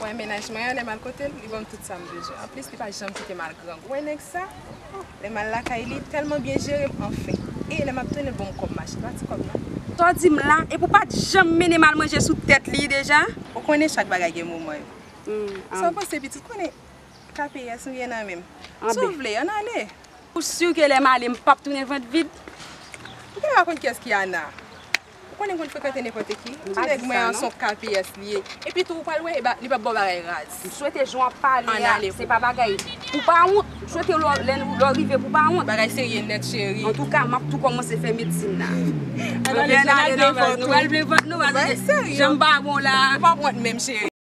Wè mennaj mwen an lè m al kote l li ban m tout sa m bezwen anplis li pa janm kite m al grangou wè nèg sa oh lè m al lakay li tèlman byen jere m anfen e lè m ap tounen l ban m kòb machin pa ti kòb non. Sa w di m la epi w pa t janm mennen m al manje sou tèt li deja. Ou konnen chak bagay gen moman yo sa w panse pitit ou konnen KPS nou gen nan men m si w vle an n ale. Ou sur ke lè m ale m pap tounen vant vid? Ou genlè pa konn kiyès ki Ana? Ou konnen konn frekante nenpòte ki. Ou pa di sa non. Ti nèg mwen an son kps li ye. Epi tou ou pral wè li pap baw bagay raz. M swete jan wap pale a se pa bagay pou pa wont. M swete lèw rive pou pa wont. Bagay serye nèt cheri. Antouka map tou kòmanse fè medsin la. Ann ale nou pral plen vant nou. Janm pa bon la. Ou pap wont menm cheri.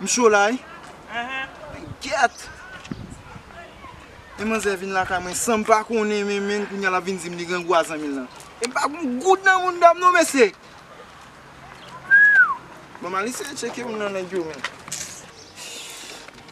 M cho la wi. Men gyèt! Yon manzè vin lakay mwen san m pa konnen men men kounye a l ap vin di m li grangou a zanmi l lan. E m pa gen yon goud nan mounda m non mesye! Bon m al eseye tcheke youn nan nèg yo menm.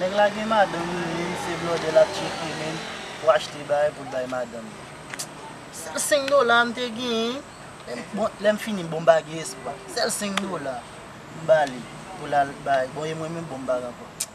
Nèg la gen madanm li menm se blòdè lap tcheke menm pou achte bagay poul bay madanm li. Sèl 5 dola m te genyen bon lèm fini bon m pa gen espwa sèl 5 dola m bali pou lal bay bon e mwen menm bon m pa gen ankò.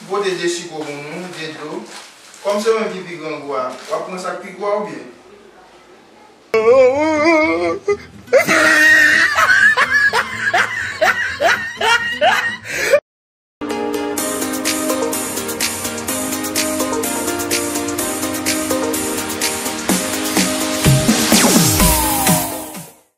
M pote de siko pou nou, de dlo. Kòm se ou menm ki pi grangou a, w ap pran sa k pi gwo a oubyen?